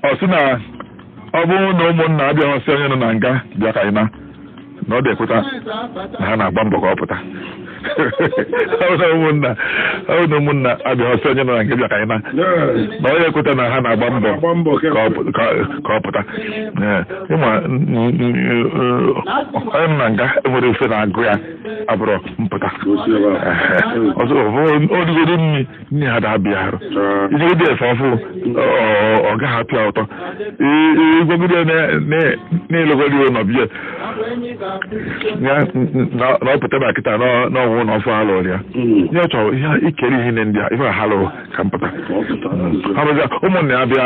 ọ sị na ọ bụrụ na ụmụnna abịaghị sị onye nọ na nga bịa ka anyị naa na ọ dị ekweta na ha na-agba mbọ ka ọ pụta ọ bụ na ụmụnna ọ bụ na ụmụnna abịaghị sị onye nọ na nga bịa ka anyị naa na ọ ekweta na ha na-agba mbọ ka ọ pụta ị ma onye nọ na nga enwerọ ife na-agụ ya abụrọ mpụta ọzọ ọ dịgodo nri nne ha da-abịa arụ ijigide efe ọfụ ọ gaghị apịa ụtọ ịgwagide na-elegodi ụlọ bie ya na ọ pụta na kịta n'ọnwụ ụlọ ọfụ ha lụrụ ya nye ọ chọrọ ihe ikere ihe ndị a ife ha lụrụ ka mpụta ụmụnne ya bịa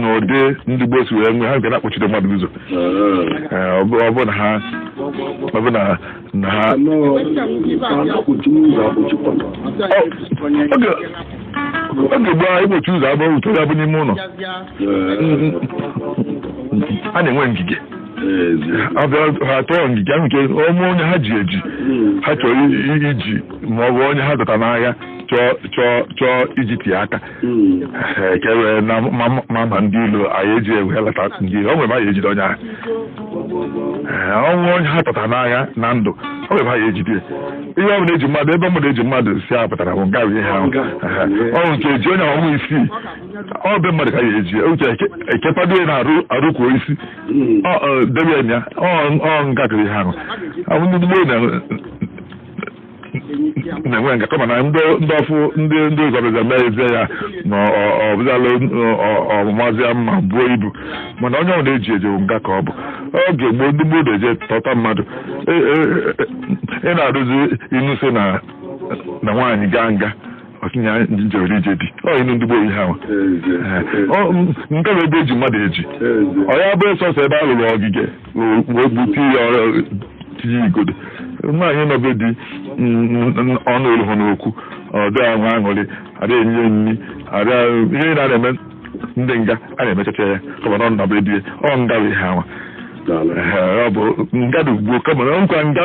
n'ụdị ndị gboo si wee nwee ha ga na-akpọchite mmadụ ụzọ Ee, ọ bụ ọ bụ na ha ọ bụ na na ha oge oge gboo egbochi ụzọ abụọ ụtọ ya bụ n'ime ụlọ a na-enwe ngige abịa ha tọọ ngige ahụ nke ọmụ onye ha ji eji ha chọrọ i- i- iji ma ọ bụ onye ha dọta n'agha chọọ chọọ chọọ iji tie aka ekere na mama ndị ilo anyị eji ewe lata ndị ilo o nwere anyị ejide onye ahụ ọnwụ onye ha tọtara n'agha na ndụ o nwere anyị ejide ihe ọ bụla eji mmadụ ebe mmadụ eji mmadụ si a pụtara bụ nga ihe ahụ ọnwụ nke eji onye ọnwụ isii ọ bụ mmadụ ka ya eji uche ekekwado ya na-arụ arụkwuo isi debe ya ọ nga kiri ihe ahụ ndị gboo na na-enwe nga kama na ndị ndị ọfụ ndị ndị ụzọ bịaza mee ezie ya na ọ- ọ bịazala ọmụmazịa mma buo ibu mana onye ọbụla eji eji ọ nga ka ọ bụ oge gboo ndị gboo na-eje tọta mmadụ E- e- e- ị na-atụzi inu sị na na nwaanyị gaa nga o tinye njewere ije di ọ inu ndị gboo ihe ahụ Ee, ọ, m- nke bụ ebe eji mmadụ eji ọ ya bụ sọsọ ebe a lụrụ ogige n'okpu okpu tinye ọrụ tinye igodo nwaanyị nọ be di ọnụ olu ha n'okwu ọ dịghị ahụ aṅụrị adịghị enye ya nri adịghị ihe na na-eme ndị nga a na-emechacha ya kama na ọ nọ be di ya ọ nga bụ ihe anwa Daalụ. Ee, ọ bụ nga dị ugbo kama na nkwa nga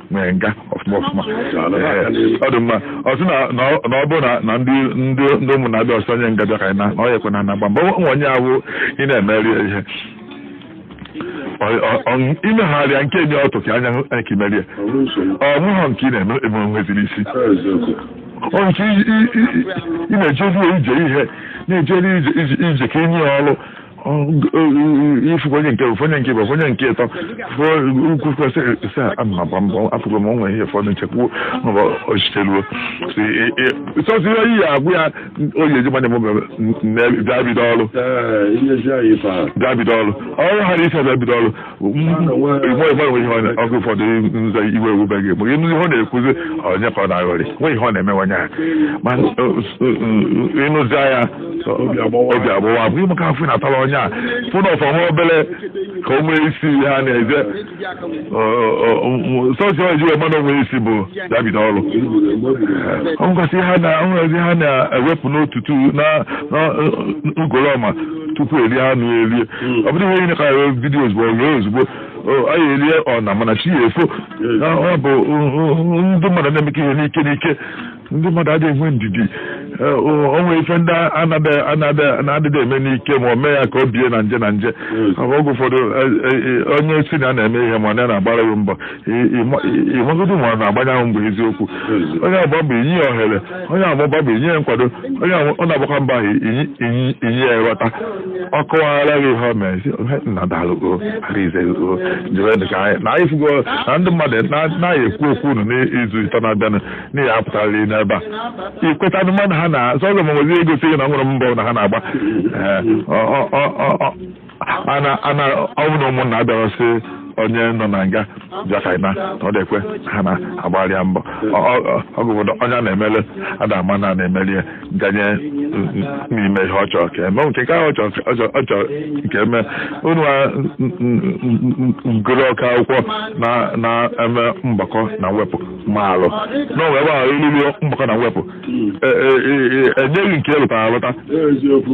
nwere nga ọfụma ọfụma ọ dị mma ọ sị na ọ bụrụ na ndị ndị ndị ụmụnna abịaghọ sị onye nga bịa ka anyị naa na ọ ya ekwe na na-agba mbọ nwa onye ahụ ị na-emeri ya ihe imegharịa nke nye ọtụ ka anya ka imeri ya o nweghọ nke ị na-eme eme nweziri isi ọ nke ị na-ejezi ije ihe na-ejeri ije ka inye ya ọrụ ifukwa onye nke onye nke bụ onye nke ịtọ ukwu kwesịrị ise ama gba mbọ afụgo m o nwe ihe ụfọdụ nchekwuo maọbụ ochiteruo sọsọ ihe oyi ya agwụ ya oyi eji manye m bịa bido ọrụ bịa bido ọrụ ọrụ ha na isi bịa bido ọrụ oge ụfọdụ nza iwe ewubeghị egbu ịnụ ihe ọ na-ekwuzi onye ka ọ na-aghọrị nwe ihe ọ na-eme nwanye ha ma ịnụzi ya obi agbụwa bụ ịmụka afọ na-atara onye a fụ na ọ fọ nwa obere ka o nwee isi ha na-eze sọsọ ji wee mana o nwee isi bụ ya bido ọrụ ọ ngwasị ha na-ewepụ n'otutu na ugolọma tupu erie anụ erie hmm. ọ bụrụ ihe ka video ozugbo ozugbo anyị erie ọna mana chi ya efo hmm. ọ bụ ndị mmadụ na-emekọ ihe n'ike n'ike ndị mmadụ adịghị enwe ndidi o nwe ife ndị na-adịghị eme n'ike ma o mee ya ka o bie na nje na nje hmm. oge ụfọdụ e, e, e, onye si na na-eme ihe ma ọ na-agbara ya mbọ ịmagodi ma ọ na-agbanye ahụ mgbe eziokwu onye agba mbọ inye ya ohere onye agbaba mbọ inye ya nkwado onye ọ na-agbakwa mbọ ahụ inye ya nghọta ọ kọwara gị ihe o mere si nna dalụgo arizego jere ka anyị na anyị fugo na ndị mmadụ na-anaghị ekwu okwu unu n'izu ịtọ na-abịanụ n'ihi apụtara n'ebe a ikweta ndị mmadụ ha na zọzọ ma nwezi egosi gị na nwere mbọ na ha na-agba ana ana ọ bụ na ụmụnna abịara sị onye nọ na nga bịa ka anyị na na ọ dịkwe ha na-agbara ya mbọ oge ụfọdụ onye a na-emeli ada ama na a na-emeli ya ganye n'ime ihe ọ chọrọ ka eme nke ka ọ chọrọ ọ chọrọ- ọ chọrọ nke eme unu a gụrụ ọka akwụkwọ na na-eme mgbakọ na mwepụ maalụ na o nwe ebe ahụ iliri mgbakọ na mwepụ E- e- e- e- enyeghị nke elụtara alụta eziokwu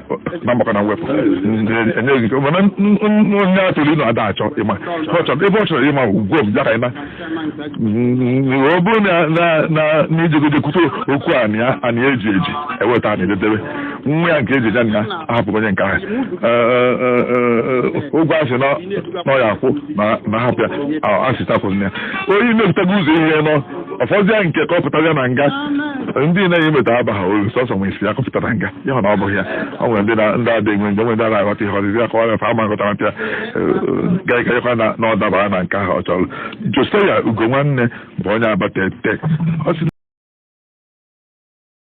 na mgbakọ na mwepụ enyeghị ike mana onye a chọrọ ịnụ ada achọ ịma ebe ọ chọrọ ịma ugwo m bịa ka ịna ọ bụrụ na i jegode kwute okwu anị eji eji eweta anị ededebe nwa ya nke eji eji anị ya ahapụrụ onye nke ahụ ụgwọ asị na ọ ya akwụ na ahapụ ya asị tapụrụ ya onye mepụtago ụzọ ihe nọ ọ fọzịa nke ka ọ pụtazịa na nga ndị na-enye meta abaghị ulu sọsọ nwe isi ya ka ọ pụta na nga ya na ọ bụghị ya o nwere ndị ndị adị enwe nje nwere ndị anaghị aghọta ihe ọzịzi ya ka ọ na-efe ama nghọtara mpịa gaịkayekwa na na ọ dabara na nke ahụ ọ chọrọ Josia Ugonwanne bụ onye Abatete